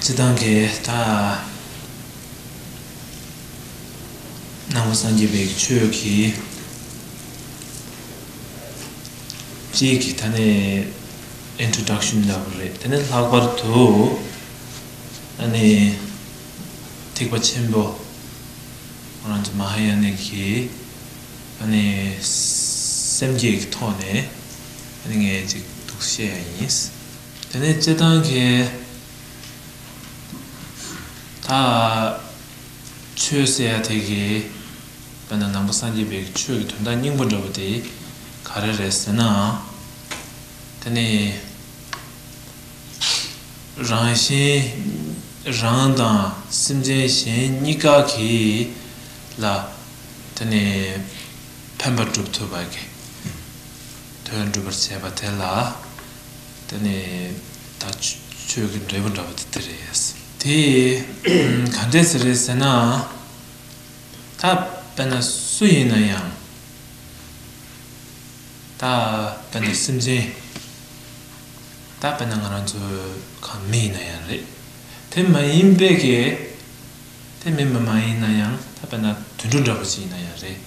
སྤྱི་བཏང་གི་ད་ནང་པ་སངས་རྒྱས་པའི་ཆོས་ཀྱི་སྤྱིའི་གི་ད་ནི introduction ལབ་པ་རེད་དེ་ནི་ལྷག་པར་དུ་ད་ནི་ཐེག་པ་ཆེན་པོ་ང་རང་ཚོ་མ་ཧཱ་ཡ་ནིག་གི་ད་ནི་སེམས་བསྐྱེད་ཀྱི་ཐོག་ནས་ད་ནི་ངས་ཅིག་ཐུགས་བཞེད་ཡ་ཡིན། དེ་ནས་རྩེད་ཐང་གི་ད་ཆོས་ཟེར་ཡ་དེ་གི་དཔེ་ན་ནང་པ་སངས་རྒྱས་པའི་ཆོས་ཀྱི་དོན་དག་སྙིང་པོ་འདྲ་བོ་དེ་ག་རེ་རེད་ཟེར་ན། དེ་ནི་རང་གཞན་རང་དང་སེམས་ཅན་གཞན་གཉིས་ཀ་གི་ལ་དེ་ནི་ཕན་པ་སྒྲུབ་ཐུབ་པ་གི་དོན་སྒྲུབ་པར་བྱེད་པ་དེ་ལ། དེ་ནས་ད་ཆོས་ཀྱི་འབྲས་བུ་འདྲ་བ་དེ་དེ་རེད། དེ་ག་འདྲས་ཟེ་རེད་ཟེར་ན། ད་དཔེར་ན་སུ་ཡིན་ན་ཡང། ད་དཔེར་ན་སེམས་ཅན། ད་དཔེར་ན་ང་རང་ཚོ་ག་མི་ཡིན་ན་ཡང་རེད། དེ་མ་ཡིན་པའི་གེ། དེ་མི་མི་མ་ཡིན་ན་ཡང་ད་དཔེར་ན་དུད་འགྲོ་འདྲ་བོ་ཞིག་ཡིན་ན་ཡང་རེད།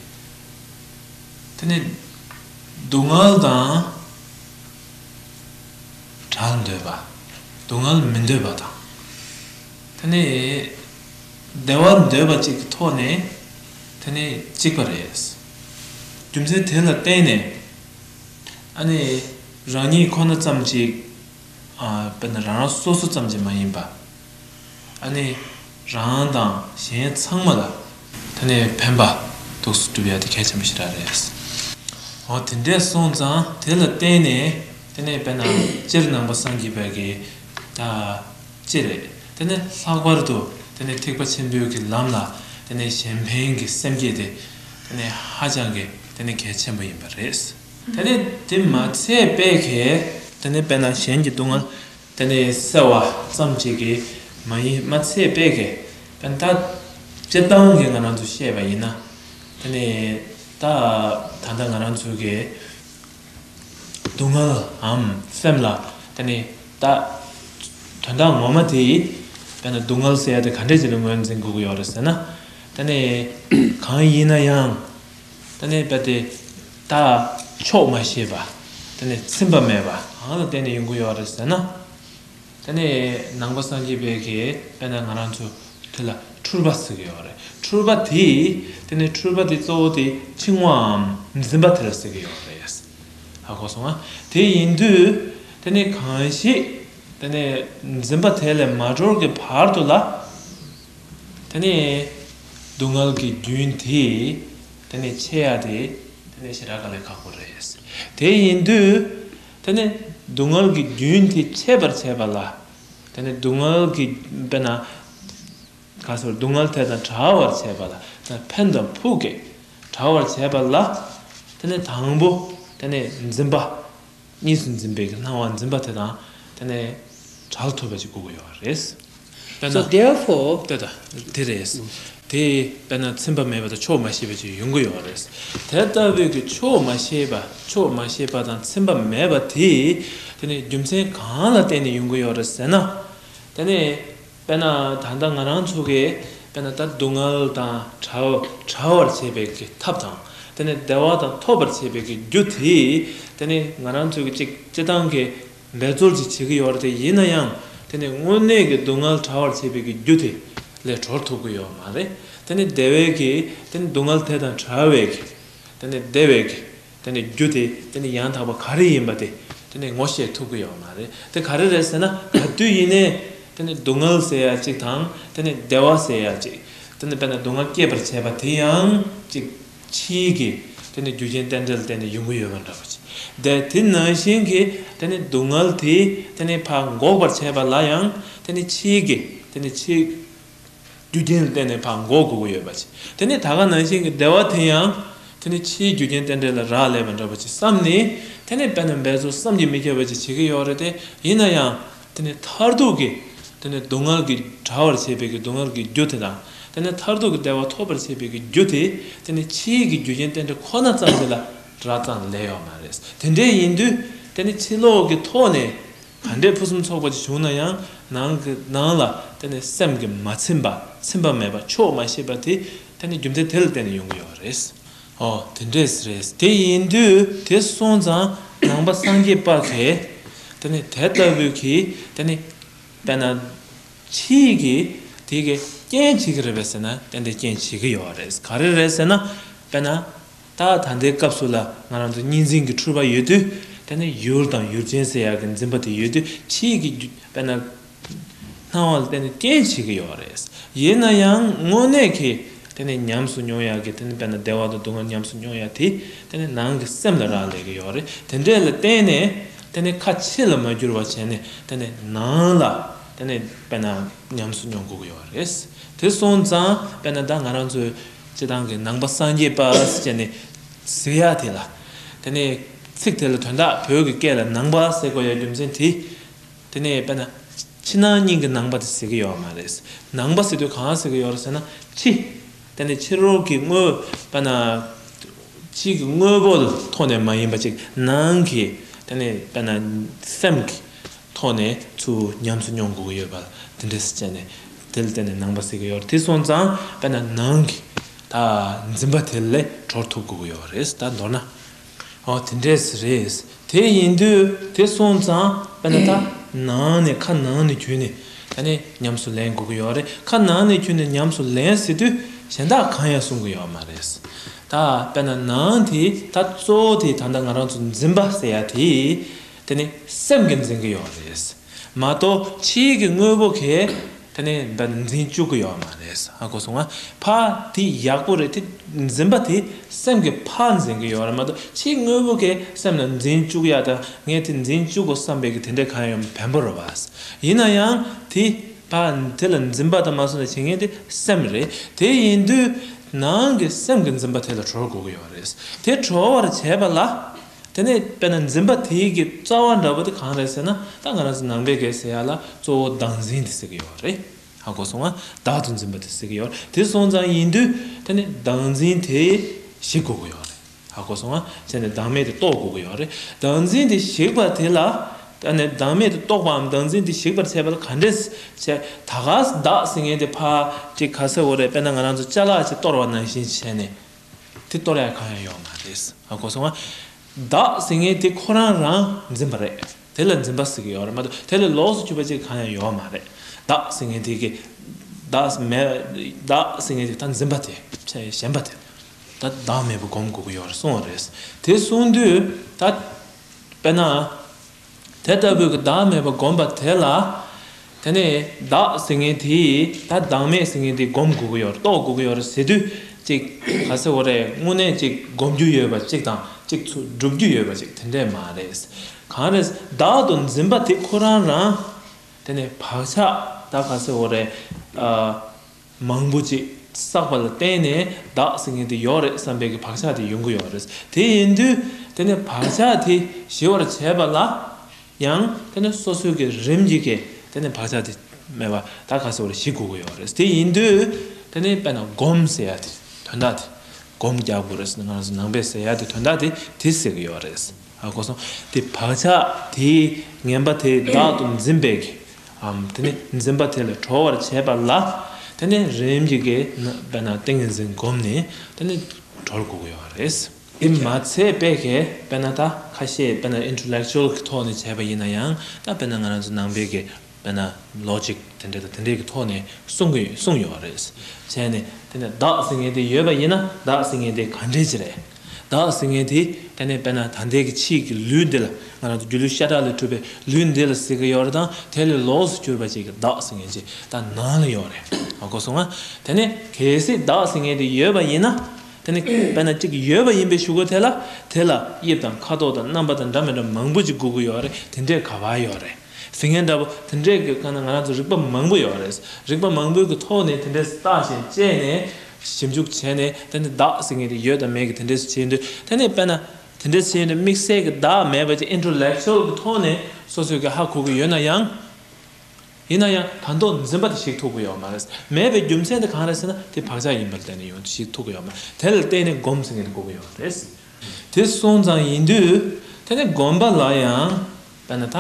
དེ་ནས་སྡུག་བསྔལ་དང། གྲགས་འདོད་པ། སྡུག་བསྔལ་མི་འདོད་པ་དང། དེ་ནས་བདེ་བ་འདོད་པ་གཅིག་གི་ཐོག་ནས་དེ་ནི་གཅིག་པ་རེད། རྒྱུ་མཚན་དེ་ལ་བརྟེན་ནས་ཨ་ནི་རང་ཉིད་ཁོ་ན་ཙམ་གཅིག་དཔེར་ན་རང་རང་སོ་སོ་ཙམ་གཅིག་མ་ཡིན་པ། ཨ་ནི་རང་དང་གཞན་ཚང་མ་ལ་ད་ནི་ཕན་པ་ཐུགས་སུ་འགྲུབ་ཡ་དེ་གལ་ཆེན་པོ་ཞིག་ར་རེད། ཨོ་དེ་འདྲས་སོང་ཙང་དེ་ལ་བརྟེན་ནས་དེ་ནི་བས་ན་སྤྱིར་ནང་པ་སངས་རྒྱས་པའི་གེ་ཅི་རེད་དེ་ནི་ལྷག་པར་དུ་དེ་ནི་ཐེག་པ་ཆེན་པོའི་གི་ལམ་ལ་དེ་ནི་གཞན་ཕན་གི་སེམས་བསྐྱེད་དེ་དེ་ནི་ཧ་ཅང་གི་དེ་ནི་གལ་ཆེན་པོ་ཡིན་པ་རེད། དེ་ནི་དེ་མ་ཚད་པའི་གེ་དེ་ནི་བས་ན་གཞན་གྱི་སྡུག་བསྔལ། དེ་ནི་སེལ་བ་ཙམ་གྱིས་ཀྱི་མ་ཡིན་མ་ཚད་པས་ཀྱི་པན་ཏཱ་སྤྱིར་བཏང་གི་ང་རང་ཚོས་བཤད་པ་ཡིན་ན་དེ་ནི་ད་ད་ལྟ་ང་རང་ཚོས་ཀྱི་སྡུག་བསྔལའམ་སེམས་ལ་དེ་ནི་ད་དོན་དག་ངོ་མ་དེ་ཡིས་དེ་ནི་སྡུག་བསྔལ་སེལ་ཡ་དེ་ག་འདྲས་ཀྱི་ལ་ངོས་འཛིན་དགོས་ཀྱི་ཡོད་རེད་ཟེར་ན་དེ་ནི་གང་ཡིན་ན་ཡང། ད་ནི་བལྟ་སྟེ། ད་ཆོག་མ་ཤེས་པ། ད་ནི་ཚིམ་པ་མེད་པ་གང་ལ་བརྟེན་ནས་ཡོང་གི་ཡོད་རེད་ཟེར་ན། ད་ནི་ནང་པ་སངས་རྒྱས་དཔལ་གྱིས་དཔལ་ན་ང་རང་ཚོ་དེ་ལ་འཁྲུལ་པ་ཟེར་གྱི་ཡོད་རེད། འཁྲུལ་པ་དེ། དེ་ནི་འཁྲུལ་པ་དེ་གཙོ་བོ་དེ་འཆིང་བའམ་འཛིན་པ་དེ་ལ་ཟེར་གྱི་ཡོད་རེད། ཧ་གོ་སོང་ང། དེ་ཡིན་དུས། དེ་ནི་གང་ཞིག། དེ་ནི་འཛིན་པ་དེ་ལས་མ་གྲོལ་གྱི་བར་དུ་ལ། དེ་ནས་སྡུག་བསྔལ་གྱི་རྒྱུན་དེ་དེ་ནས་ཆད་ཡ་དེ་དེ་ནས་ཞེས་ར་ག་ལས་ཁག་པོ་རེད། དེ་ཡིན་དུས་དེ་ནས་སྡུག་བསྔལ་གྱི་རྒྱུན་དེ་ཆད་པར་བྱས་པ་ལ་དེ་ནས་སྡུག་བསྔལ་གྱི་དཔེར་ན་གང་ཟེར་སྡུག་བསྔལ་དེ་དང་བྲལ་བར་བྱས་པ་ལ་དེ་ནས་ཕན་དང་ཕུགས་ཀྱིས་བྲལ་བར་བྱས་པ་ལ་དེ་ནས་དང་པོ་དེ་ནས་འཛིན་པ་གཉིས་སུ་འཛིན་པའི་སྣང་བ་འཛིན་པ་དེ་དང་དེ་ནས་གྲགས་ཐུབ་པ་ཅིག་དགོས་ཀྱི་ཡོད་པ་རེད། དཔེར་ན། ལྟོས་དང། དེ་རེད། དེ་དཔེར་ན་ཚིམ་པ་མེད་པ་དང་ཆོག་མ་ཤེས་པ་ཅིག་ཡོང་གི་ཡོད་པ་རེད། དེ་ལྟ་བུའི་གི་ཆོག་མ་ཤེས་པ་ཆོག་མ་ཤེས་པ་དང་ཚིམ་པ་མེད་པ་དེ་དེ་ནི་རྒྱུ་མཚན་གང་ལ་བརྟེན་ནས་ཡོང་གི་ཡོད་རེད་ཟེར་ན། དེ་ནི། དཔེར་ན་ད་ལྟ་ང་རང་ཚོ་གིས་དཔེར་ན་ད་སྡུག་བསྔལ་དང་བྲལ་བར་བྱེད་པའི་གི་ཐབས་དང། དེ་ནས་བདེ་བ་དང་ཐོབ་པར་བྱེད་པའི་གི་རྒྱུ་དེ་དེ་ནི་ང་རང་ཚོས་ཅིག་སྤྱི་སྟངས་ཀྱི་འབད་རྩོལ་ཅིག་བྱེད་ཀྱི་ཡོད་རེད་དེ་ཡིན་ན་ཡང་དེ་ནི་དངོས་གནས་ཀྱི་སྡུག་བསྔལ་བྲལ་བར་བྱེད་པའི་གི་རྒྱུ་དེ་ལས་གྲོལ་ཐུབ་ཀྱི་ཡོད་མ་རེད་དེ་ནི་བདེ་བའི་གི་དེ་ནི་སྡུག་བསྔལ་དེ་དང་བྲལ་བའི་གི་དེ་ནི་བདེ་བའི་གི་དེ་ནི་རྒྱུ་དེ་དེ་ནི་ཡང་དག་པ་ག་རེ་ཡིན་པ་དེ་དེ་ནི་ངོ་ཤེས་ཐུབ་ཀྱི་ཡོད་པ་མ་རེད་དེ་ག་རེ་རེད་ཟེར་ན་ག་དུས་ཡིན་ནའི་དེ་ནི་སྡུག་བསྔལ་ཟེར་ཡ་གཅིག་དང་དེ་ནི་བདེ་བ་ཟེར་ཡ་གཅིག་དེ་ནི་དཔེར་ན་སྡུག་བསྔལ་སྐྱེད་པར་བྱེད་པ་དེ་ཡང་གཅིག་ཕྱིས་ཀྱི་དེ་ནི་རྒྱུ་རྐྱེན་རྟེན་འབྲེལ་དེ་ནི་ཡོང་གི་ཡོད་པ་འདྲ་བོ་ཅི་བདེ་དེ་ནང་བཞིན་གྱི་དེ་ནི་སྡུག་བསྔལ་དེ་དེ་ནི་ཕ་འགོག་པར་བྱེད་པ་ལ་ཡང་དེ་ནི་ཕྱིས་ཀྱི་དེ་ནི་ཕྱིས་རྒྱུ་རྐྱེན་ལ་བརྟེན་ནས་བག་མགོ་སྒུར་གི་ཡོད་པ་ཅི། དེ་ནས་ད་ག་ནང་བཞིན་གྱི་བདེ་བ་དེ་ཡང། དེ་ནི་ཕྱིའི་རྒྱུ་རྐྱེན་རྟེན་འབྲེལ་ལ་རག་ལས་པ་འདྲ་པོ་ཅི་བསམ་ནས། དེ་ནས་དཔེར་ན་འབད་རྩོལ་བསམ་གྱིས་མི་ཁྱབ་པ་ཅི་བྱེད་ཀྱི་ཡོད་རེད་དེ། ཡིན་ན་ཡང། དེ་ནི་མཐར་ཐུག་གི། དེ་ནི་སྡུག་བསྔལ་གྱི་དྲ་བར་བྱེད་པའི་གི་སྡུག་བསྔལ་གྱི་རྒྱུ་དེ་དང། དེ་ནི་མཐར་ཐུག་གི་བདེ་བ་ཐོབ་པར་བྱེད་པའི་གི་རྒྱུ་དེ། དེ་ནི་ཕྱིའི་གི་རྒྱུ་རྐྱེན་རྟེན་འབྲེལ་ཁོ་ན་ཙམ་ཞིག་ལ་རག་ཙང་ལས་ཡོད་མ་རེད། དེ་འདྲའི་ཡིན་དུས། དེ་ནི་ཕྱི་ལོགས་ཀྱི་ཐོག་ནས། གང་འདྲའི་ཕུན་སུམ་ཚོགས་པ་ཞིག་བྱུང་ན་ཡང་ནང་གི་ནང་ལ་དེ་ནི་སེམས་ཀྱི་མ་ཚིམ་པ་ཚིམ་པ་མེད་པ་ཆོག་མ་ཤེས་པ་དེ་དེ་ནི་རྒྱུ་མཚན་དེ་ལ་བརྟེན་ནས་ཡོང་གི་ཡོད་པ་རེད། ཨོ་དེ་འདྲས་རེད་དེ་ཡིན་དུས་དེ་སོང་ཙང་ནང་པ་སངས་རྒྱས་དཔག་གིས་དེ་ནི་དེ་ལྟ་བུའི་གིས་དེ་ནི་དཔེར་ན་ཁྱི་གིས་དེ་གིས་རྐྱེན་བྱེད་ཀྱི་རེད་པས་ཟེར་ན་དེ་འདྲའི་རྐྱེན་བྱེད་ཀྱི་ཡོད་རེད་ག་རེ་རེད་ཟེར་ན་དཔེར་ན། རྟགས་ད་ལྟའི་སྐབས་སུ་ལ་ང་རང་ཚོ་གཉིས་འཛིན་གྱི་འཁྲུལ་པ་ཡོད་དུས་དེ་ནི་ཡུལ་དང་ཡུལ་ཅན་ཟེར་ཡག་གི་འཛིན་པ་དེ་ཡོད་དུས་ཁྱེད་ཀྱི་རྒྱུད་དཔེར་ན། སྣང་བ་ལ་བརྟེན་ནས་རྐྱེན་བྱེད་ཀྱི་ཡོད་རེད། ཡིན་ན་ཡང་དངོས་གནས་ཀྱི་དེ་ནི་ཉམས་སུ་མྱོང་ཡག་གི་དེ་ནི་དཔེར་ན་བདེ་བ་དང་སྡུག་བསྔལ་ཉམས་སུ་མྱོང་ཡག་དེ་དེ་ནི་ནང་གི་སེམས་ལ་རག་ལས་ཀྱི་ཡོད་རེད་དེ་འདྲས་ལ་བརྟེན་ནས་དེ་ནི་ཁ་ཕྱི་ལ་མ་བསྒྱུར་བ་བྱས་ནས་དེ་ནི་ནང་ལ་དེ་ནི་དཔེར་ན་ཉམས་སུ་མྱོང་དགོས་ཀྱི་ཡོད་རེད། དེ་སོང་ཙང་དཔེར་ན་ད་ང་རང་ཚོའི་ཅེས་དང་གི་ནང་པ་སངས་རྒྱས་པདྨ་ཅན་ནི་གཟིགས་ཡ་དེ་ལ། དེ་ནས་ཚིག་དེ་ལ་དོན་དག་བོད་ཀྱི་སྐད་ལ་ནང་པ་སེ་གོ་ཡའི་རྒྱུ་མཚན་དེ། དེ་ནས་དཔེར་ན། ཕྱི་ནང་གཉིས་ཀྱི་ནང་པ་དེ་ཟེར་གྱི་ཡོད་མ་རེད། ནང་པ་ཟེར་དུས་གང་ཟེར་གྱི་ཡོད་རེད་ཟེར་ན་ཕྱི། དེ་ནས་ཕྱི་རོལ་གྱི་དངོས། དཔེར་ན། ཕྱི་གི་དངོས་པོ་ཐོག་ནས་མ་ཡིན་པ་ཅིག་ནང་གི། དེ་ནས་དཔེར་ན་སེམས། ཐོག་ནས་ཚུར་ཉམས་སུ་མྱོང་དགོས་ཀྱི་ཡོད་པ་དེ་འདྲས་སུ་བྱས་ནས་དེ་ལ་བརྟེན་ནས་ནང་པ་སྲིད་ཀྱི་ཡོད་དེ་སོང་ཙང་དཔེར་ན་ནང་གི་ད་འཛིན་པ་དེ་ལས་གྲོལ་ཐུབ་དགོས་ཀྱི་ཡོད་རེད་ད་མདོར་ན་འོ་དེ་འདྲས་སུ་རེད་དེ་ཡིན་དུས་དེ་སོང་ཙང་དཔེར་ན་ད་ནང་ནས་ཁ་ནང་ནས་གྱུར་ནས་ད་ནས་ཉམས་སུ་ལེན་དགོས་ཀྱི་ཡོད་རེད་ཁ་ནང་ནས་གྱུར་ནས་ཉམས་སུ་ལེན་སྲིད་དུས་གཞན་དག་གང་ཡང་གསུང་གི་ཡོད་མ་རེད་ད་དཔེར་ན་ནང་དེ་ད་གཙོ་བོ་དེ་ད་ལྟ་ང་རང་ཚོ་འཛིན་པ་ཟེར་ཡ་དེ། དེ་ནི་སེམས་ཀྱིས་འཛིན་གྱི་ཡོད་རེད་མ་གཏོགས་ཕྱིའི་གི་དངོས་པོ་གས་དེ་ནི་འདི་འཛིན་བཅུག་གི་ཡོད་མ་རེད་ཨ་གོ་སོང་ང་ཕ་དེ་ཡག་པོ་རེད་དེ་འཛིན་པ་དེ་སེམས་ཀྱི་ཕ་འཛིན་གྱི་ཡོད་རེད་མ་གཏོགས་ཕྱིའི་དངོས་པོ་གས་སེམས་ལ་འཛིན་བཅུག་ཡག་དང་ངས་དེ་འཛིན་བཅུག་གོ་བསམ་པའི་གི་དེ་འདྲས་གང་ཡོད་བེམ་པོ་རེད་བ་ཡིན་ན་ཡང་དེ་ཕ་དེ་ལ་འཛིན་པ་དང་མ་སོང་ལ་བྱེད་མཁན་དེ་སེམས་རེད་དེ་ཡིན་དུས་ནང་གི་སེམས་ཀྱི་འཛིན་པ་དེ་ལ་གྲོལ་དགོས་གི་ཡོད་རེད་དེ་གྲོལ་བར་བྱས་པ་ལ། དེ་ནས་དཔེར་ན་འཛིན་པ་དེའི་གི་རྩ་བ་འདྲ་བོ་དེ་གང་རེད་ཟེར་ན་ད་ང་རང་ཚོ་ནང་པའི་གེ་ཟེར་ཡག་ལ་གཙོ་བོ་བདག་འཛིན་དེ་ཟེར་གི་ཡོད་པ་རེད་ཧ་གོ་སོང་ང་བདག་ཏུ་འཛིན་པ་དེ་ཟེར་གི་ཡོད་རེད་དེ་སོང་ཙང་ཡིན་དུས་དེ་ནི་བདག་འཛིན་དེ་ཞིག་གོ་གི་ཡོད་རེད་ཧ་གོ་སོང་ང་ཟེར་ནས་བདག་མེད་དེ་རྟོགས་དགོས་གི་ཡོད་རེད་བདག་འཛིན་དེ་ཞིག་པ་དེ་ལ་ད་ནི་བདག་མེད་དེ་རྟོགས་པའམ་བདག་འཛིན་དེ་ཞིག་པར་བྱས་པ་ལ་ག་འདྲས་བྱས་ད་ག་བདག་ཟེར་མཁན་དེ་ཕ་ཀྲི་ག་ཚེ་བོ་རེད་དཔེར་ན་ང་རང་ཚོ་བཅའ་ལག་ཅིག་གཏོར་བ་ནང་བཞིན་བྱས་ནས། དེ་གཏོར་ཡ་གང་ཡང་ཡོག་མ་རེད། གོ་སོང་ང། བདག་ཟེར་ངེས་དེ་ཁོ་རང་རང་འཛིན་པ་རེད། དེ་ལ་འཛིན་པ་ཟེར་གི་ཡོག་རེད་མ་གཏོགས་དེ་ལས་ལོགས་སུ་ཆུད་པ་ཅིག་གང་ཡང་ཡོག་མ་རེད། བདག་ཟེར་ངེས་དེ་གི། བདག་མེད། བདག་ཟེར་ངེས་དེ་ད་འཛིན་པ་དེ་ཚེ་གཞན་པ་དེ། ད་བདག་མེད་པ་སྒོམ་དགོས་ཀི་ཡོག་རེད་གསུང་བ་རེད། དེ་གསུང་དུས་ད། དཔེར་ན། དེ་ལྟ་བུའི་བདག་མེད་པ་བསྒོམས་པ་དེ་ལ། དེ་ནས་བདག་ཟེར་མཁན་དེས་ད་བདག་མེད་ཟེར་མཁན་དེ་བསྒོམ་དགོས་ཀྱི་ཡོད་རེད་རྟོགས་དགོས་ཀྱི་ཡོད་རེད་ཟེར་དུས་གཅིག་ག་ཚེ་བོ་རེ་དངོས་གནས་གཅིག་བསྒོམ་རྒྱུ་ཡོད་པ་གཅིག་དང་གཅིག་ཚུ་སྒྲུབ་རྒྱུ་ཡོད་པ་གཅིག་དེ་འདྲས་མ་རེད། གང་རེད་བདག་ཏུ་འཛིན་པ་དེ་ཁོ་རང་རང། དེ་ནས་བག་ཆགས་ད་ག་ཚེ་བོ་རེ། མང་པོ་ཅིག་བསགས་པ་ལ་བརྟེན་ནས་བདག་ཟེར་མཁན་དེ་ཡོད་རེད་བསམ་པའི་གི་བག་ཆགས་དེ་ཡོང་གི་ཡོད་རེད། དེ་ཡིན་དུས་དེ་ནི་བག་ཆགས་དེ་ཞི་བར་བྱས་པ་ལ་ཡང་དེ་ནི་སོ་སོའི་གི་རིམ་གྱིས་གི་དེ་ནི་བག་ཆགས་དེ་མེད་པར་ད་ག་ཟེར་བ་རེད་ཞི་དགོས་གི་ཡོད་རེད། དེ་ཡིན་དུས་དེ་ནི་དཔེར་ན་སྒོམ་ཟེར་ཡ་དེ་དོན་དག་དེ་སྒོམ་རྒྱག་དགོས་རེད་ཟེར་ན་ང་རང་ཚོ་ནང་པས་ཟེར་ཡ་དེ་དོན་དག་དེ་དེ་ཟེར་གི་ཡོད་རེད། གོ་སོང། དེ་བག་ཆགས་དེའི་ངན་པ་དེ་བདག་ཏུ་འཛིན་པའི་གི་འམ། དེ་ནས་འཛིན་པ་དེ་ལས་གྲོལ་བར་བྱས་པ་ལ། དེ་ནས་རིམ་གྱིས་དགེ་བའི་ནང་ཏིང་ངེ་འཛིན་བསྒོམས་ནས་དེ་ནས་གྲོལ་དགོས་ཀྱི་ཡོད་པ་རེད། དེ་མ་ཚད་དཔེ་ཁས་དཔེར་ན་ད་ཁ་ཤས་དཔེར་ན Intellectual གྱི་ཐོག་ནས་བྱས་པ་ཡིན་ན་ཡང་ད་དཔེར་ན་ང་རང་ཚོ་ནང་པའི་གི་དཔེར་ན Logic དེ་འདྲ་དང་དེ་འདྲའི་གི་ཐོག་ནས་གསུང་གི་གསུང་ཡོད་པ་རེད། བྱས་ནས་དེ་ནས་བདག་ཟེར་མཁན་དེ་ཡོད་པ་ཡིན་ན་བདག་ཟེར་མཁན་དེ་ག་འདྲས་ཀྱི་རེད། བདག་ཟེར་མཁན་དེ་ཨེ་ནས་པས་ན་ད་ལྟའི་གི་ཕྱིས་ཀྱི་ལུས་འདི་ལ་ང་རང་ཚོ་སྒྱུ་ལུས་ཤ་ཁྲག་ལས་གྲུབ་པའི་ལུས་འདི་ལ་ཟེར་གི་ཡོད་རེད་ད་དེ་ལས་ལོགས་སུ་གྱུར་པ་ཅིག་གི་བདག་ཟེར་མཁན་ཅིག་ད་ནང་ལ་ཡོད་རེད་ཨ་གོ་སོང་ང་དེ་ནས་གལ་སྲིད་བདག་ཟེར་མཁན་དེ་ཡོད་པ་ཡིན་ན་དེ་ནས་པས་ན་ཅིག་ཡོད་པ་ཡིན་པའི་ཞུ་གོ་དེ་ལ་དེ་ལ་དབྱིབས་དང་ཁ་དོག་དང་རྣམ་པ་དང་འདྲ་མི་འདྲ་མང་པོ་ཅིག་སྒུག་གི་ཡོད་རེད་དེ་འདྲས་ག་བར་ཡོད་རེད། དེ་ངས་འདྲ་པོ་དེ་འདྲས་ཀྱི་སྐོར་ནས་ང་རང་ཚོ་རིག་པ་མང་པོ་ཡོད་རེད། རིག་པ་མང་པོའི་གི་ཐོག་ནས་དེ་འདྲས་སུ་བརྟག་ཞིང་དཔྱད་ནས། ཞིབ་འཇུག་བྱས་ནས་དེ་ནས་བདག་ཟེར་མཁན་དེ་ཡོད་དམ་མེད་གི་དེ་འདྲས་སུ་བྱས་ཡོད་འདུག་དེ་ནས་དཔེར་ན། དེ་འདྲས་བྱས་ཡོད་འདུག་དམིགས་བསལ་གི་བདག་མེད་པ་ཅིག Intellectual གི་ཐོག་ནས་སོ་སོས་གི་ཧ་གོ་གི་ཡོད་ན་ཡང། ཡིན་ན་ཡང་དང་ཐོག་འཛིན་པ་དེ་ཞིག་ཐུག་གི་ཡོད་མ་རེད། མེད་པའི་རྒྱུ་མཚན་དེ་གང་རེད་ཟེར་ན་དེ་བག་ཆགས་ཡིན་པ་ལ་བརྟེན་ནས་ཡོང་ཞིག་ཐུག་གི་ཡོད་མ་རེད། དེ་ལ་བརྟེན་ནས་སྒོམ་ཟེར་མཁན་དེ་གོ་གི་ཡོད་རེད། དེ་སོང་ཙང་ཡིན་དུས། དེ་ནས་སྒོམ་པ་ལ་ཡང། པ་ན་ད།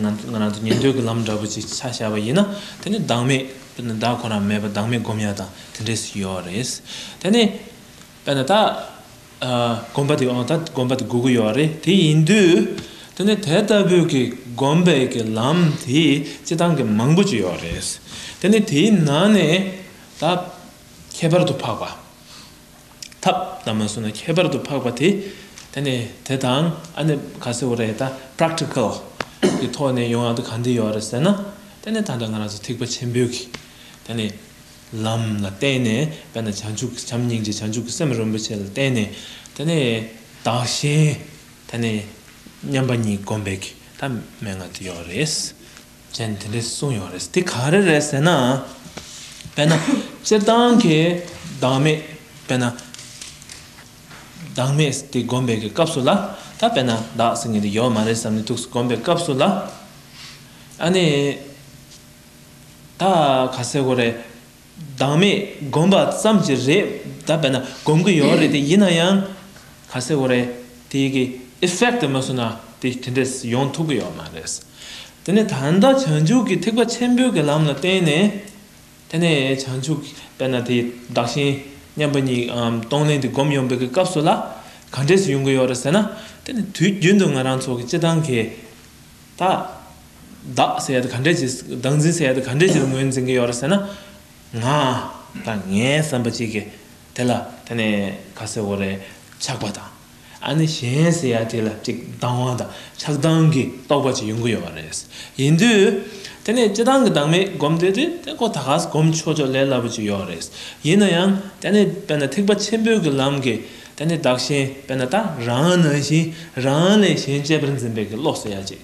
ང་རང་ཚོ་ཉན་ཐོས་ཀྱི་ལམ་འདྲ་པོ་ཅིག་ཆ་བཞག་པ་ཡིན་ན་དེ་ནི་བདག་མེད་དཔེར་ན་བདག་ཁོ་ན་མེད་པར་བདག་མེད་སྒོམ་ཡ་དང་དེ་འདྲས་སུ་ཡོད་རེད། དེ་ནི། དཔེར་ན་ད། སྒོམ་པ་དེ་འོ་ད་སྒོམ་པ་དེ་དགོས་ཀྱི་ཡོད་རེད་དེ་ཡིན་དུས། དེ་ནི་དེ་ལྟ་བུའི་གི་སྒོམ་པའི་གི་ལམ་དེ་སྤྱི་བཏང་གི་མང་པོ་ཅིག་ཡོད་རེད། དེ་ནི་དེའི་ནང་ནས་ད། ཁྱད་པར་དུ་འཕགས་པ། ཐབས་དང་མ་སུ་ན་ཁྱད་པར་དུ་འཕགས་པ་དེ་དེ་ནི་དེ་དང་ཨ་ནི་ག་སེ་བོ་རེད་ད Practical གི་ཐོག་ནས་ཡོང་ཡག་དུ་གང་འདི་ཡོད་རེད་ཟེར་ན་དེ་ནི་ད་ལྟ་ང་རང་ཚོ་ཐེག་པ་ཆེན་པོའི་གི་དེ་ནི་ལམ་ལ་བརྟེན་ནས་དཔེར་ན་བྱང་ཆུབ་བྱམས་སྙིང་རྗེ་བྱང་ཆུབ་ཀྱི་སེམས་རིན་པོ་ཆེ་ལ་བརྟེན་ནས་དེ་ནི་བདག་གཞན་དེ་ནི་མཉམ་པ་ཉིད་བསྒོམ་པའི་གི་ད་མན་ངག་འདི་ཡོད་རེད། ཅན་དེ་འདྲས་གསུངས་ཡོད་རེད་དེ་ག་རེ་རེད་ཟེར་ན། དཔེར་ན་སྤྱིར་བཏང་གི་བདག་མེད་དཔེར་ན། བདག་མེད་དེ་སྒོམ་པའི་སྐབས་སུ་ལ་ད་དཔེར་ན་བདག་ཟེར་མཁན་དེ་ཡོད་མ་རེད་བསམ་ནས་ཐུགས་སུ་སྒོམ་པའི་སྐབས་སུ་ལ། ཨ་ནི། ད་ག་ཟེར་གོ་རེད། བདག་མེད་སྒོམ་པ་ཙམ་གྱིས་རེད་བདག་བས་ན་སྒོམ་གྱི་ཡོད་རེད་དེ་ཡིན་ན་ཡང་ག་ཚད་བོ་རེད་དེ་གི effect དེ་མ་བཟོ་ན་དེ་དེ་འདྲས་ཡོང་ཐུབ་གི་ཡོད་མ་རེད། དེ་ནས་ད་ལྟ་བྱང་ཆུབ་ཀྱི་ཐེག་པ་ཆེན་པོའི་གི་ལམ་ལ་བརྟེན་ནས་དེ་ནས་བྱང་ཆུབ་ཀྱི་བས་ན་དེ་བདག་གཞན་མཉམ་པ་ཉིད་སྟོང་ལེན་དེ་སྒོམ་ཡོང་པའི་གི་སྐབས་སུ་ལ་ག་འདྲས་ཡོང་གི་ཡོད་རེད་ཟེར་ན་དེ་ནི་དུས་རྒྱུན་དུ་ང་རང་ཚོ་གི་སྤྱི་བཏང་གི་ད། བདག་ཟེར་ཡས་དེ་ག་འདྲའི་ཆེ། བདག་འཛིན་ཟེར་ཡས་དེ་ག་འདྲའི་ཆེ་དུ་ངོས་འཛིན་གྱི་ཡོད་རེད་ཟེར་ན། ང། དང་ངའི་བསམ་པ་གཅིག་གི། དེ་ལ་དེ་ནི་ཁ་སེར་བོ་རེད། ཆགས་པ་དང། ཨ་ནི་གཞན་ཟེར་ཡས་དེ་ལ་ཅིག་སྡང་བ་དང་ཆགས་སྡང་གི་རྟོག་པ་ཅིག་ཡོང་གི་ཡོད་པ་རེད། ཡིན་དུས། དེ་ནི་སྤྱི་སྡང་གི་སྡང་མིག་སྒོམ་དུས་དེ་དེ་ཁོ་ད་ག་སྒོམ་ཆོག་ཆོག་ལས་སླ་པོ་ཅིག་ཡོད་རེད། ཡིན་ན་ཡང་དེ་ནི་དཔེར་ན་ཐེག་པ་ཆེན་པོའི་གི་ལམ་གི། དེ་ནི་བདག་གཞན་དཔེར་ན་ད་རང་ནང་བཞིན་རང་ལས་གཞན་གཅེས་པར་འཛིན་པའི་བློ་གསོ་ཡ་གཅིག་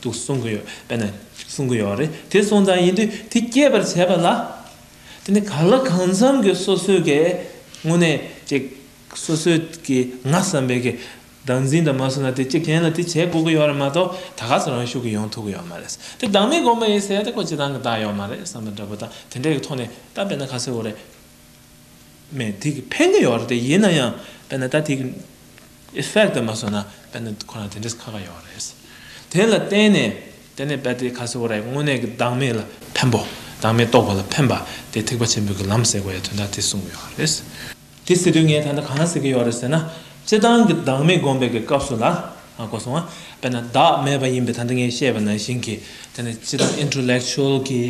ཏུ་གསུང་གི་ཡོད་དཔེར་ན་གསུང་གི་ཡོད་རེད་དེ་གསུང་ཙང་ཡིན་དུས་དེ་སྐྱེད་པར་བྱེད་པ་ལ་དེ་ནི་ག་ལ་གང་འཚམ་གྱི་སོ་སོའི་གེ་དངོས་གནས་ཀྱི་སོ་སོའི་གི་ང་བསམ་པའི་གི་བདག་འཛིན་དང་མ་བསྲུང་ན་དེ་སྐྱེད་མཁན་ལ་དེ་བྱེད་དགོས་ཀྱི་ཡོད་རེད་མ་གཏོགས་ད་ག་ཚོད་རང་ཤུགས་ཀྱིས་ཡོང་ཐུབ་ཀྱི་ཡོད་མ་རེད་དེ་བདག་མེད་སྒོམ་པ་ཡིན་ཟེར་ཡ་དེ་ཁོ་སྤྱི་དང་གི་བདག་ཡོད་མ་རེད་བསམ་པ་འདྲ་པོ་དང་དེ་འདྲའི་གི་ཐོག་ནས་ད་དཔེར་ན་ག་ཚོད་འོ་རེད། མེད་དེ་གི་ཕན་ཀི་ཡོད་རེད་དེ་ཡིན་ན་ཡང་དཔེར་ན་ད་དེ་གི effect དེ་མ་བཟོ་ན་དཔེར་ན་ཁོ་རང་དེ་འདྲས་ཁག་ཁག་ཡོད་རེད་དེ་ལ་བརྟེན་ནས་དེ་ནས་དཔེར་དེ་ཁ་སོ་རེད་དངོས་གནས་ཀི་བདག་མེད་ལ་ཕན་པོ་བདག་མེད་རྟོགས་པ་ལ་ཕན་པ་དེ་ཐེག་པ་ཆེན་པོའི་གི་ལམ་ཟེར་དགོས་ཡ་དོན་དག་དེ་གསུངས་ཡོད་རེད། དེ་ཟེར་དུས་ངས་ད་ནི་གང་ཟེར་གི་ཡོད་རེད་ཟེར་ན་སྤྱི་བཏང་གི་བདག་མེད་སྒོམ་པའི་གི་སྐབས་སུ་ལ། དགོས་སོང་ང། དཔེར་ན་བདག་མེད་པ་ཡིན་པའི་དོན་དེ་ངས་བཤད་པ་ནང་བཞིན་གྱི་དེ་ནི་སྤྱི་དང Intellectual གྱི་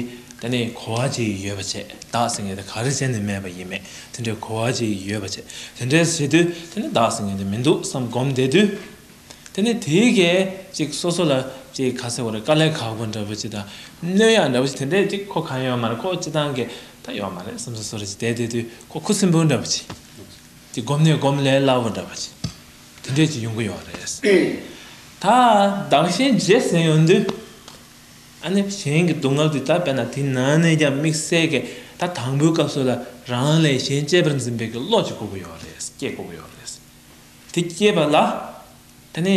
དེ་ནི་གོ་བ་ཅིག་ཡོད་པ་བྱེད་བདག་ཟེར་མཁན་དེ་ག་རེ་བྱས་ནས་མེད་པ་ཡིན་མེད་དེ་འདྲའི་གོ་བ་ཅིག་ཡོད་པ་བྱེད་དེ་འདྲས་བྱེད་དུས་དེ་ནི་བདག་ཟེར་མཁན་དེ་མི་འདུག་བསམ་སྒོམ་བསྡད་དུས་དེ་ནི་དེའི་གས་ཅིག་སོ་སོ་ལ་ཅིག་ག་ཟེར་བ་རེད་དཀའ་ལས་ཁག་པོ་འདྲ་པོ་ཅིག་དང་སྣོད་ཡག་འདྲ་པོ་ཅིག་དེ་འདྲས་ཅིག་ཁོ་གང་ཡོད་མ་རེད་ཁོ་སྤྱི་དང་གས་ད་ཡོད་མ་རེད་བསམ་སོ་སོ་རེ་ཅིག་བསྡད་བསྡད་དུས་ཁོ་ཁུ་སིམ་པོ་འདྲ་པོ་ཅིག་སྒོམ་ནས་སྒོམ་ལས་སླ་བོ་འདྲ་པོ་ཅིག་དེ་འདྲས་ཀྱི་ཡོང་གི་ཡོད་རེད། ད་དྭངས་ཤིང་རྗེས་གཟིགས་ཡོང་དུས། ཨ་ནེ་གཞན་གྱི་སྡུག་བསྔལ་དེ་ལྟར་བས་ན་དེ་ནང་ནས་ཀྱང་དམིགས་བསལ་གྱི་ད་དང་པོའི་སྐབས་སུ་ལ་རང་ལས་གཞན་གཅེས་པར་འཛིན་པའི་གི་བློ་ཅིག་སྐུར་གི་ཡོད་རེད་སྐྱེས་དགོས་ཀྱི་ཡོད་རེད། དེ་སྐྱེས་པ་ལ། ཨ་ནེ།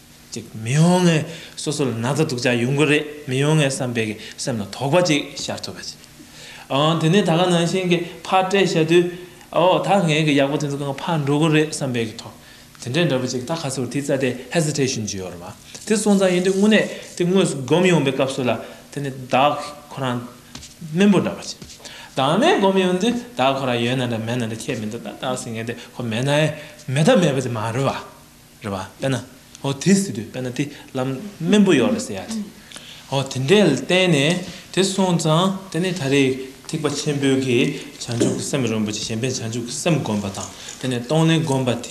ཅིག་མི་ཡོང་ངེས། སོ་སོ་ལ་ན་ཚ་སྡུག་ཅག་ཡོང་གི་རེད་མི་ཡོང་ངེས་བསམ་པའི་གི་སེམས་ལ་དོགས་པ་ཅིག་ཤར་ཐུབ་པ་ཅིག། ཨང་དེ་ནས་ད་ག་ནང་བཞིན་གི་ཕར་བཀྲལ་བྱ་དུས། ཨོ་ད་ངས་གི་ཡག་པོ་དེ་ཚོ་གང་ཕར་འགྲོ་གི་རེད་བསམ་པའི་གི་དོགས། དེ་འདྲའི་འདྲ་པོ་ཅིག་ད་ག་ཚོར་དེའི་རྩ་དེ Hesitation ཅིག་ཡོད་རེད་མ། དེ་སོང་ཙང་ཡིན་དུས་དངོས་གནས་དེ་དངོས་སུ་སྒོམ་ཡོང་པའི་སྐབས་སུ་ལ་དེ་ནི་བདག་ཁོ་རང་དམན་པོ་འདྲ་བ་ཅིག། བདག་མེད་སྒོམ་ཡོང་དུས་བདག་ཁོ་རང་ཡོད་ན་འདྲ་མེད་ན་འདྲ་ཁྱད་མི་འདུག་ད་བདག་ཟེར་མཁན་དེ་ཁོ་མེད་ན་ཨེ་མེད་ད་མེད་པ་དེ་མ་རེད་བ། རེད་བ་དཔེ་ན་ཨོ་དེ་སྲིད་དུ་དཔེ་ན་དེ་ལམ་སྨན་པོ་ཡོག་རེད་ཟེར་ཡག་དེ་ཨོ་དེ་འདྲས་བསྟན་ནས་དེ་སོང་ཙང་དེ་ནས་ད་རེས་ཐེག་པ་ཆེན་པོའི་གི་བྱང་ཆུབ་ཀྱི་སེམས་རིན་པོ་ཆེ་གཞན་པའི་བྱང་ཆུབ་ཀྱི་སེམས་བསྒོམ་པ་དང་དེ་ནས་གཏོང་ལེན་བསྒོམ་པ་དེས་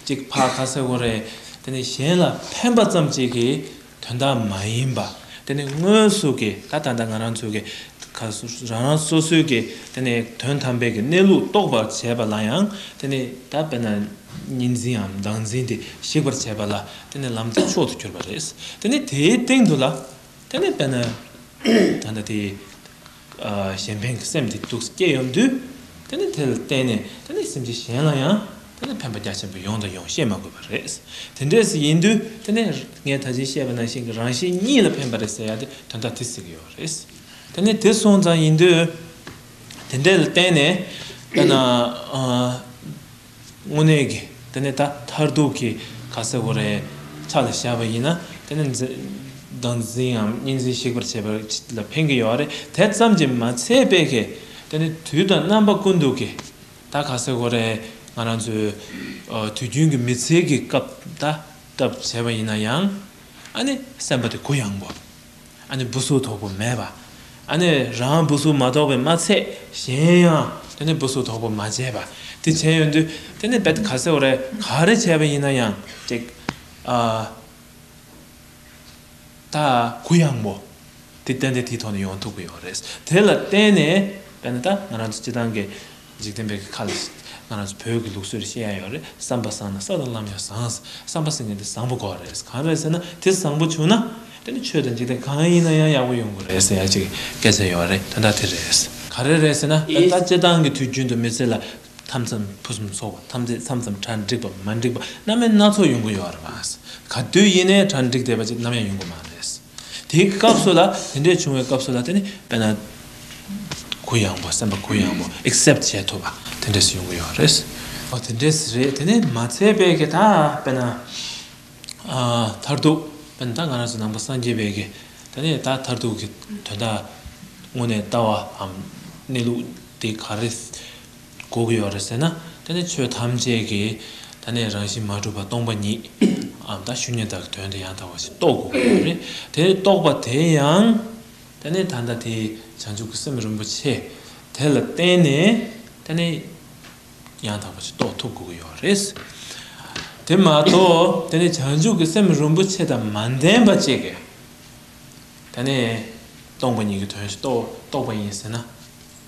གཅིག་ཕ་ཁ་སེ་གོ་རེད་དེ་ནས་གཞན་ལ་ཕན་པ་ཙམ་གཅིག་གིས་དོན་དག་མ་ཡིན་པ། དེ་ནི་སྔོན་སོགས་ཀྱི་ད་ད་ལྟ་ང་རང་ཚོའི་རང་རང་སོ་སོའི་གི་དེ་ནི་དོན་དམ་པའི་གི་གནས་ལུགས་རྟོགས་པར་བྱས་པ་ལ་ཡང་དེ་ནི་ད་བས་ན་གཉིས་འཛིནའམ་བདག་འཛིན་དེ་ཞིག་པར་བྱས་པ་ལ་དེ་ནི་ལམ་གྱི་མཆོག་ཏུ་གྱུར་པ་རེད། དེ་ནི་དེའི་སྟེང་དུ་ལ་དེ་ནི་བས་ན་ད་ད་དེ། གཞན་ཕན་གྱི་སེམས་སྡིག་སྡུག་སྐྱེ་ཡོང་དུས་དེ་ལ་བརྟེན་ནས་སེམས་ཅན་གཞན་ལ་ཡང་ཕན་པ་རྒྱ་ཆེན་པོ་ཡོང་དང་ཡོང་ཤེས་མ་དགོས་པ་རེད། དེ་འདྲས་ཡིན་དུས་ངས་ད་ཕྱིན་བཤད་པ་ནང་བཞིན་གྱི་རང་གཞན་གཉིས་ལ་ཕན་པ་རེད་ཟེར་ཡག་དེ་དོན་དག་དེ་ཟེར་གྱི་ཡོད་རེད། དེ་སོང་ཙང་ཡིན་དུས་དེ་འདྲས་ལ་བརྟེན་ནས་དངོས་གནས་ཀྱི་དེ་ནས་ད་མཐར་ཐུག་གི་ཁ་ཟས་གོ་རེ་ཚ་ལ་བཞག་པ་ཡིན་ན་དེ་ནི་མདངས་འཛིངའམ་གཉིས་འཛིངས་བཤིག་པར་བྱེད་པར་ལ་ཕན་གྱི་ཡོད་རེད་དེ་ཙམ་གྱིས་མ་ཚད་དཔེ་གལ་ཏེ་ནི་དུས་དང་རྣམ་པ་ཀུན་འདུག་གི་ད་ཁ་ཟས་གོ་རེ་ང་རང་ཚོའི་དུས་རྒྱུན་གྱི་མི་ཚེའི་གི་སྐབས་ད་བཏབ་བྱས་པ་ཡིན་ན་ཡང་ཨ་ནི་སེམས་པ་དེ་གུ་ཡངས་པོ། འབུ་གཟུགས་དོག་པོ་མེད་པ། རང་འབུ་གཟུགས་མ་དོག་པའི་མ་ཚད་གཞན་ཡང་འབུ་གཟུགས་དོག་པོ་མ་བྱས་པ། དེ་བྱས་ཡོད་དུས་དེ་ནི་བད་ག་ཟེ་བོ་རེ་ག་རེ་བྱས་པ་ཡིན་ན་ཡང་ད་གུ་ཡངས་པོ་དེ་བསྟན་ཏེ་དེའི་ཐོག་ནས་ཡོང་ཐུབ་ཀྱི་ཡོད་རེད། དེ་ལ་བརྟེན་ནས་ང་རང་ཚོ་སྤྱི་བཏང་གི་འཇིག་རྟེན་པའི་གི་ཁ་ལ་ང་རང་ཚོ་བོད་ཀྱི་ལུགས་སྲོལ་ཤེས་ཡ་ཡོད་རེད་བསམ་པ་བཟང་ན་ས་དང་ལམ་ཡང་བཟང་བསམ་པ་སེང་གེ་འདི་བཟང་པོ་དགོས་རེད་གང་རེད་ཟེར་ན་དེ་བཟང་པོ་བྱུང་ན་དེ་ནི་ཆོས་དང་འཇིག་རྟེན་གང་ཡིན་ན་ཡང་ཡག་པོ་ཡོང་དགོས་རེད་ཟེར་ཡ་གཅིག་སྐད་ཆ་ཡོད་རེད་དོན་དག་དེ་རེད། ག་རེ་རེད་ཟེར་ན་ད་ལྟ་སྤྱི་བཏང་གི་དུས་རྒྱུན་དུ་མི་ཚེ་ལ་མཐའ་མཚམས་ཕུན་སུམ་ཚོགས་པ་ཐམས་ཅད་མཚམས་མཚམས་གྲ་འགྲིག་པ་མ་འགྲིག་པ་སྣ་མེད་སྣ་ཚོགས་ཡོང་གི་ཡོད་རེད་མ་ཟད་ག་དུས་ཡིན་ནའི་གྲ་འགྲིག་བསྡད་པ་ཅིག་ནམ་ཡང་ཡོང་གི་མ་རེད། དེའི་སྐབས་སུ་ལ་དེ་འདྲས་བྱུང་བའི་སྐབས་སུ་ལ་དེ་ནི་དཔེར་ན། གུ་ཡངས་པོ་སེམས་པ་གུ་ཡངས་པོ accept བྱེད་ཐུབ་པ་དེ་འདྲས་སུ་ཡོང་གི་ཡོད་རེད། ཨོ་དེ་འདྲས་རེད་དེ་ནི་མ་ཚད་པའི་གི་ད་དཔེར་ན། མཐར་ཐུག་དཔེར་ན་ད་ང་རང་ཚོ་ནང་པ་སངས་རྒྱས་པའི་གི་ད་ནི་ད་མཐར་ཐུག་གི་དོན་དག་དངོས་གནས་ལྟ་བའམ་གནས་ལུགས་དེ་ག་རེ། གོ་གི་ཡོད་རེད་ཟེར་ན་ད་ནི་ཆོས་ཐམས་ཅད་ཀྱི་ད་ནི་རང་བཞིན་མ་གྲུབ་པ་སྟོང་པ་ཉིད་འམ་ད་ཤུ་ཉེ་དག་གི་དོན་དུ་ཡང་དག་པ་ཞིག་རྟོགས་དགོས་ཀྱི་ཡོད་རེད་དེ་རྟོགས་པ་དེ་ཡང་ད་ནི་ད་ལྟ་དེ་བྱང་ཆུབ་ཀྱི་སེམས་རིན་པོ་ཆེ་དེ་ལ་བརྟེན་ནས་ད་ནི་ཡང་དག་པ་ཞིག་རྟོགས་ཐུབ་དགོས་ཀྱི་ཡོད་རེད། དེ་མ་གཏོགས་ད་ནི་བྱང་ཆུབ་ཀྱི་སེམས་རིན་པོ་ཆེ་དང་མ་ལྡན་པ་ཅིག་གིས་ད་ནི་སྟོང་པ་ཉིད་ཀྱི་དོན་ཞིག་རྟོགས་པ་ཡིན་ཟེར་ན།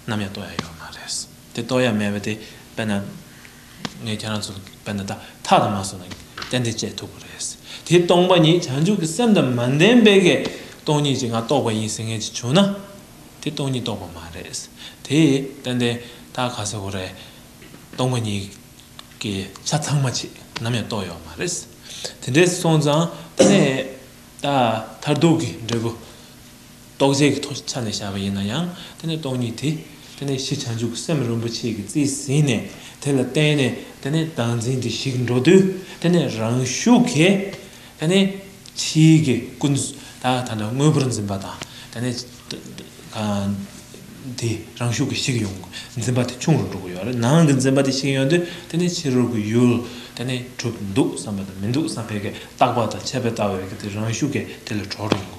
ནམ་ཡང་ལྟོ་ཡ་ཡོད་མ་རེད། དེ་ལྟོ་ཡ་མེད་པ་དེ་དཔེར་ན། ངས་ཁྱེད་རང་ཚོ་དཔེར་ན་ད་ཐག་ལ་མ་བཟོ་ན་གཏན་གཏན་སྤྱད་ཐུབ་པ་རེད། དེ་སྟོང་པ་ཉིད་བྱང་ཆུབ་ཀྱི་སེམས་དང་མ་ལྡན་པའི་གས་སྟོང་ཉིད་ཅིག་ང་རྟོགས་པ་ཡིན་ཟེར་མཁན་ཅིག་བྱུང་ན། དེ་སྟོང་ཉིད་རྟོགས་པ་མ་རེད། དེ་ཏན་ཏན་ད་ག་ཟེ་བོ་རེད། སྟོང་པ་ཉིད་ཀྱི་ཆ་ཚང་མ་ཆེད་ནམ་ཡང་རྟོགས་ཡོད་མ་རེད། དེ་འདྲས་སོང་ཙང་ད་ནས་ད་མཐར་ཐུག་གི་འབྲས་བུ། རྟོག་བཅས་ཀྱི་ཐོག་ཆ་ནས་བཞག་པ་ཡིན་ན་ཡང་དེ་ནི་སྟོང་ཉིད་དེ། དེ་ནས་ཕྱིས་བྱང་ཆུབ་སེམས་རིན་པོ་ཆེ་གི་རྩིས་ཟིན་ནས་དེ་ལ་བརྟེན་ནས་དེ་ནས་བདག་འཛིན་དེ་ཞིག་འགྲོ་དུས་དེ་ནས་རང་ཤུགས་ཀྱིས་དེ་ནས་ཕྱིའི་གི་ཀུན་བཏགས་ཐ་ན་དངོས་པོར་འཛིན་པ་དང་དེ་ནས་དེ་རང་ཤུགས་ཀྱིས་ཞིག་ཡོང་འཛིན་པ་དེ་ཆུང་རུ་འགྲོ་གི་ཡོད་རེད་ནང་གི་འཛིན་པ་དེ་ཞིག་ཡོང་དུས་དེ་ནས་ཕྱི་རོལ་གྱི་ཡུལ་དེ་ནས་གྲུབ་འདུག་བསམ་པ་དང་མི་འདུག་བསམ་པའི་གི་བཏགས་པ་དང་ཆད་པའི་ལྟ་བའི་གི་དེ་རང་ཤུགས་ཀྱིས་དེ་ལ་གྲོལ་རུ་འགྲོ་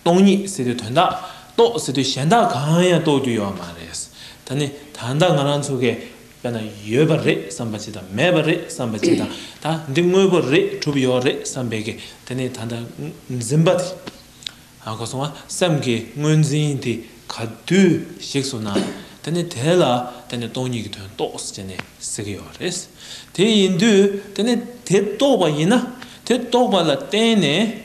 སྟོང་ཉིད་ཟེར་དུས་དོན་དག་རྟོགས་ཟེར་དུས་གཞན་དག་གང་ཡང་རྟོགས་རྒྱུ་ཡོད་པ་མ་རེད། ད་ནི་ད་ལྟ་ང་རང་ཚོ་གས་པས་ན་ཡོད་པ་རེད་བསམ་པ་ཅི་དང་མེད་པ་རེད་བསམ་པ་ཅི་དང་ད་འདི་དངོས་པོ་རེད་གྲུབ་ཡོད་རེད་བསམ་པས་གས་དེ་ནི་ད་ལྟ་འཛིན་པ་དེ་ཨ་གོ་སོང་ང་སེམས་ཀྱི་དངོས་འཛིན་དེ་ག་དུས་ཞིག་སོང་ན་དེ་ནི་དེ་ལ་དེ་ནི་སྟོང་ཉིད་ཀྱི་དོན་རྟོགས་ཟེར་ནས་ཟེར་གྱི་ཡོད་རེད། དེ་ཡིན་དུས་དེ་ནི་དེ་རྟོགས་པ་ཡིན་ན་དེ་རྟོགས་པ་ལ་བརྟེན་ནས།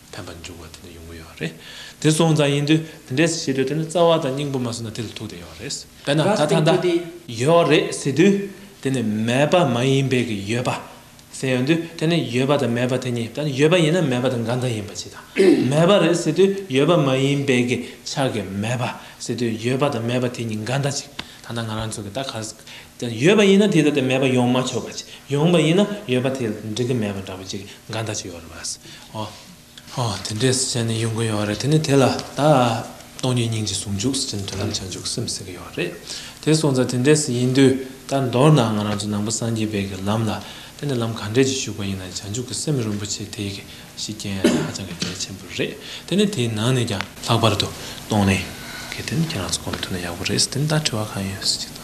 ཕན་པ་འབྱུང་བ་དེ་ནི་ཡོང་གི་ཡོད་པ་རེད། དེ་སོང་ཙང་ཡིན་དུས་དེ་འདྲའི་བྱེད་དུས་དེ་ནི་རྩ་བ་དང་སྙིང་པོ་མ་སོང་ན་དེ་ལ་ཐུག་དེ་ཡོད་རེད། དཔེར་ན་ད་ཐང་ད། ཡོད་རེད་ཟེར་དུས་དེ་ནི་མེད་པ་མ་ཡིན་པའི་གི་ཡོད་པ། ཟེར་ཡོང་དུས་དེ་ནི་ཡོད་པ་དང་མེད་པ་དེ་གཉིས་ད་ནི་ཡོད་པ་ཡིན་ན་མེད་པ་དང་འགའ་འདྲ་ཡིན་པ་ཅིག་དང། མེད་པ་རེད་ཟེར་དུས་ཡོད་པ་མ་ཡིན་པའི་གི་ཆགས་ཀྱི་མེད་པ། ཟེར་དུས་ཡོད་པ་དང་མེད་པ་དེ་གཉིས་འགའ་འདྲ་ཅིག་ད་ནང་ང་རང་ཚོ་གི་ད་ག། ཡོད་པ་ཡིན་ན་དེ་ལྟ་སྟེ་མེད་པ་ཡོང་མ་ཆོག་པ་ཅིག་ཡོང་པ་ཡིན་ན་ཡོད་པ་དེ་ལ་འགྲིག་གི་མེད་པ་འདྲ་པོ་ཅིག་འགའ་འདྲ་ཅིག་ཡོད་རེད་པ། ཧོ། དེ་འདྲའི་ཟེར་ནས་ཡོང་གི་ཡོད་རེད་དེ་ནས་དེ་ལ་ད་སྟོང་ཉིད་སྙིང་རྗེ་ཟུང་འཇུག་ཟེར་ནས་དོན་དམ་བྱང་ཆུབ་སེམས་ཟེར་གྱི་ཡོད་རེད་དེ་སོང་ཙང་དེ་འདྲའི་ཟེར་ཡིན་དུས་ད་མདོར་ན་ང་རང་ཚོ་ནང་པ་སངས་རྒྱས་དཔལ་གྱི་ལམ་ལ་དེ་ནས་ལམ་ག་འདྲས་ཀྱི་ཞུགས་པ་ཡིན་ན་བྱང་ཆུབ་ཀྱི་སེམས་རིན་པོ་ཆེ་དེ་ཡི་གེ་ཞིག་རྐྱེན་ཡང་ཧ་ཅང་གི་གལ་ཆེན་པོ་རེད་དེ་ནས་དེའི་ནང་ནས་ཀྱང་ལྷག་པར་དུ་སྟོང་ལས། གལ་ཏེ་ཁྱེད་རང་ཚོ་གོམས་ཐུབ་ན་ཡག་པོ་རེད་ཟེར་དེ་ནས་ད་དྲི་བ་གང་ཡོད་ཟེར་ཅིག་གཏང་ཞིག།